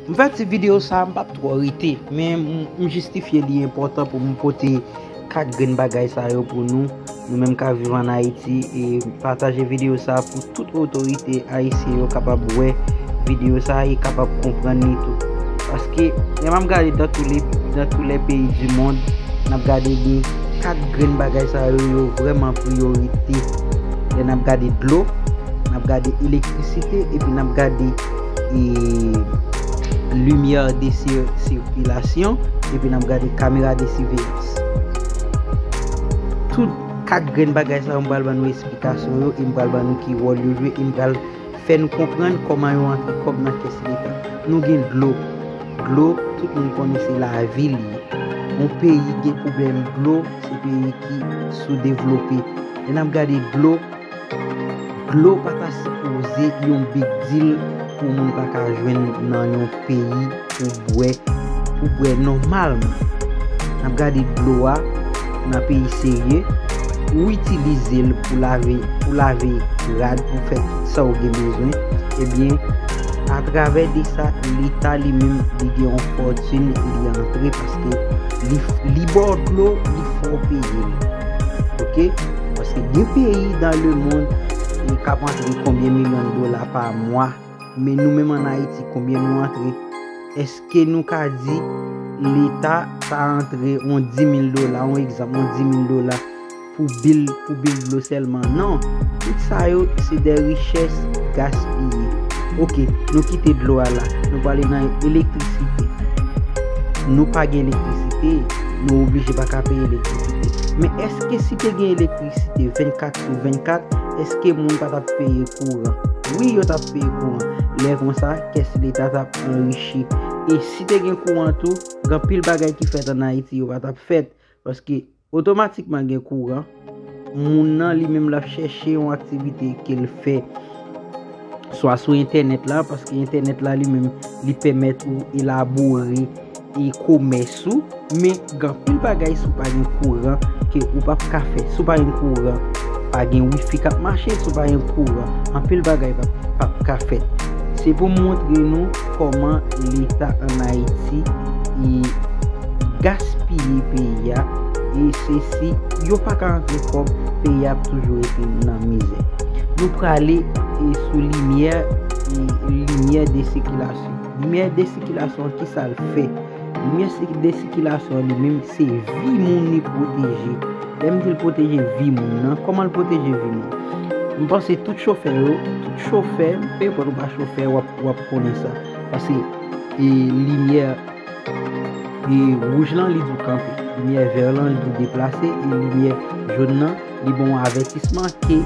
M fè ti video sa a m pap twò rete men m jistifye li enpòtan pou m pote kak grenn bagay sa yo pou nou, nou menm kap viv an Ayiti e pataje video sa a pou tout otorite ayisyen yo kapab wè video sa a e kapab konprann li tou. Paske lè map gade nan tou le nan tou lè peyi di mond nap gade de kak grenn bagay sa yo yo vrèman priyorite lè nap gade dlo, nap gade elektrisite epi nap gade. e limyè de sikilasyon epi nap gade kamera de siveyans tout 4 grenn bagay sa yo m pral ban nou esplikasyon yo e m pral ban nou ki wòl yo jwe e m pral fè nou konprann kòman yo antre kòb nan kès leta nou gen dlo dlo tout moun konnen se lavi li ye yon peyi gen pwoblèm dlo se peyi ki soudevlope lè nap gade dlo Dlo pa ta sipoze yon big deal pou moun pa ka jwenn nan yon peyi pou bwè, pou bwè nòmalman. N ap gade dlo a nan peyi serye, ou itilize l pou lave, pou lave rad, pou fè tout sa ou gen bezwen, ebyen atravè de sa leta li menm li gen yon fòtin li antre paske li li ba w dlo, li fè w peye l. Ok. Paske gen peyi dan le mond ki ap antre konbyen milyon dola pa mwa, men nou menm an Ayiti konbyen nou antre? Eske nou ka di leta ta antre yon 10 mil dola, yon egzanp, yon 10 mil dola pou bil, pou bil dlo sèlman? Non! Tout sa yo se dè richès gaspiye. Ok, nou kite dlo a la, nou prale nan elektrisite. Nou pa gen elektrisite. Nou oblije pa ka peye elektrisite. Men eske si te gen elektrisite 24 sou 24, eske moun pa tap peye kouran? Wi yo tap peye kouran. Lè konsa, kès leta tap anrichi. E si te gen kouran tou, gen anpil bagay ki fèt an Ayiti yo pa tap fèt. Paske otomatikman gen kouran. Moun nan li menm lap chèche yon aktivite ke l fè swa sou entènèt la, paske entènèt la li menm li pèmèt ou elabore e komès ou, men gen anpil bagay si w pa gen kouran ke ou pap ka fè, si w pa gen kouran pa gen wifi kap mache, si w pa gen kouran anpil bagay pap ka fèt. Se pou m montre nou. Koman leta an ayiti e gaspiye peyi a e se si yo paka antre kob peyi a ap toujou rete nan mizè. Nou prale e sou limyè e limyè de sikilasyon. Limyè de sikilasyon an ki sal fè? Limyè de sikilasyon an li menm se vi moun li pwoteje. Lè m di l pwoteje vi moun nan, koman l pwoteje vi moun? M panse tout chofè yo, tout chofè, pèpòt ou pa chofè wap. Wap konnen sa. Pase e limyè e wouj lan li di w kanpe. Limyè vèr lan li di w deplase. E limyè jòn nan li ban w avètisman ke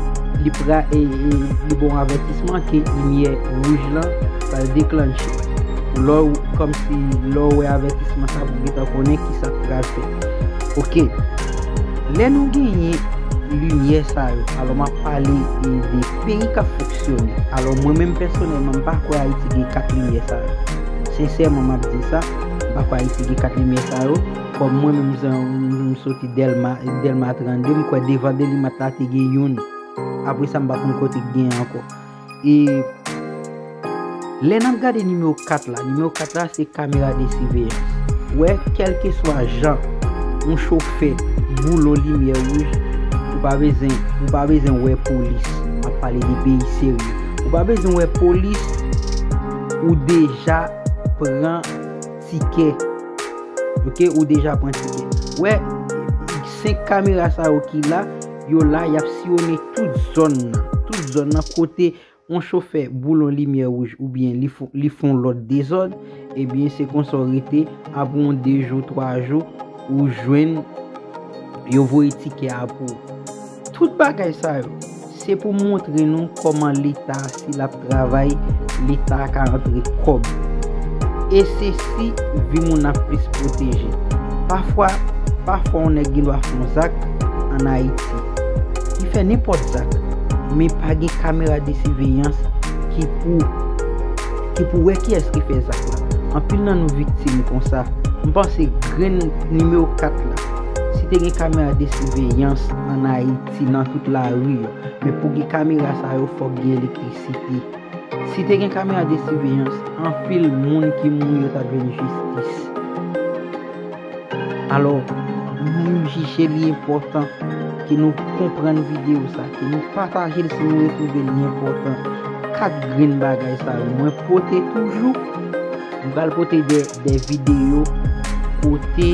li pra e li ban w avètisman ke limyè wouj lan pral deklannche. Lè w kòm si lè w wè avètisman sa pou gentan konnen ki sa k pral fèt. Ok. Lè nou genyen limyè sa yo. Alò map pale e de. Peyi kap fonksyone. Alò mwen menm pèsonèlman m pa kwè Ayiti gen 4 limyè sa yo. Sensèman map di sa, m pa kwè Ayiti gen 4 limyè sa yo. Kòm mwen menm jan m soti Dèlma, Dèlma 32, m kwè devan Delimat la te gen youn. Apresa m pa konn kote k gen ankò. E. Lè nap gade nimewo 4 la, nimewo 4 la se kamera de siveyans. Wè kelke swa jan yon chofè boulon limyè wouj, ou pa bezwen, ou pa bezwen wè polis. Map pale de peyi serye. Ou pa bezwen wè polis, ou deja pran tikè. Ok, ou deja pran tikè. Wè, 5 kamera sa yo ki la, yo la yap siyone tout zòn nan. Tout zòn nan kote. On chofè boulon limyè wouj oubyen li fon lòt dezòd, ebyen se konsa w rete apre on 2 jou 3 jou ou jwenn yo voye tikè a pou ou. Tout bagay sa yo, se pou montre nou kòman leta si l ap travay leta ka antre kòb. E se si vi moun ap plis pwoteje. Pafwa, pafwa on nèg gen dwa fon zak an Ayiti. Li fè nenpòt zak, men pa gen kamera de siveyans ki pou ki pou wè kiyès ki fè zak la. Anpil nan nou viktim konsa. M panse grenn nimewo 4 la, si te gen kamera de siveyans an Ayiti nan tout lari yo, men pou gen kamera sa yo fòk gen elektrisite. Si te gen kamera de siveyans, anpil moun ki mouri yo t ap jwenn jistis. Alò, nou jije li enpòtan ke nou konprann videyo sa, ke nou pataje l si nou retwouve li enpòtan. 4 grenn bagay sa yo mwen pote toujou. M pral pote de videyo kote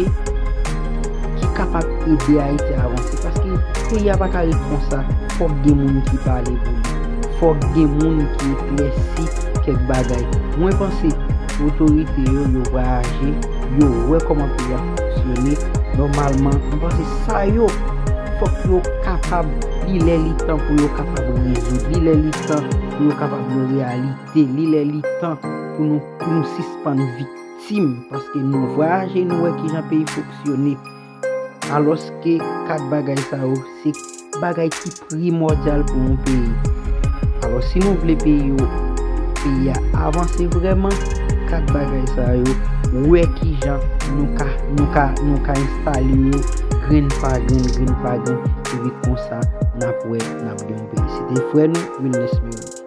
ki kapab ede Ayiti avanse. Paske peyi a pa ka ret konsa. Fòk gen moun ki pale pou li. Fòk gen moun ki eklèsi kèk bagay. Mwen panse otorite yo yo va aji. Yo wè kòmantè ya fonksyone nòmalman m panse sa yo fòk yo kapab li lè li tan pou yo kapab rezoud li lè li tan pou yo kapab yon reyalite li lè li tan pou nou pou nou sispann viktim paske nou vwayaje nou wè kijan peyi fonksyone. Alòske 4 bagay sa yo se bagay ki primòdyal pou yon peyi. Alò si nou vle peyi yo, peyi a avanse vrèman, 4 bagay sa yo, wè ki jan nou ka, nou ka, nou ka enstale yo grenn pa grenn, grenn pa grenn, epi konsa n ap wè n ap gen yon peyi. Se te frè nou Wilnes Mirout.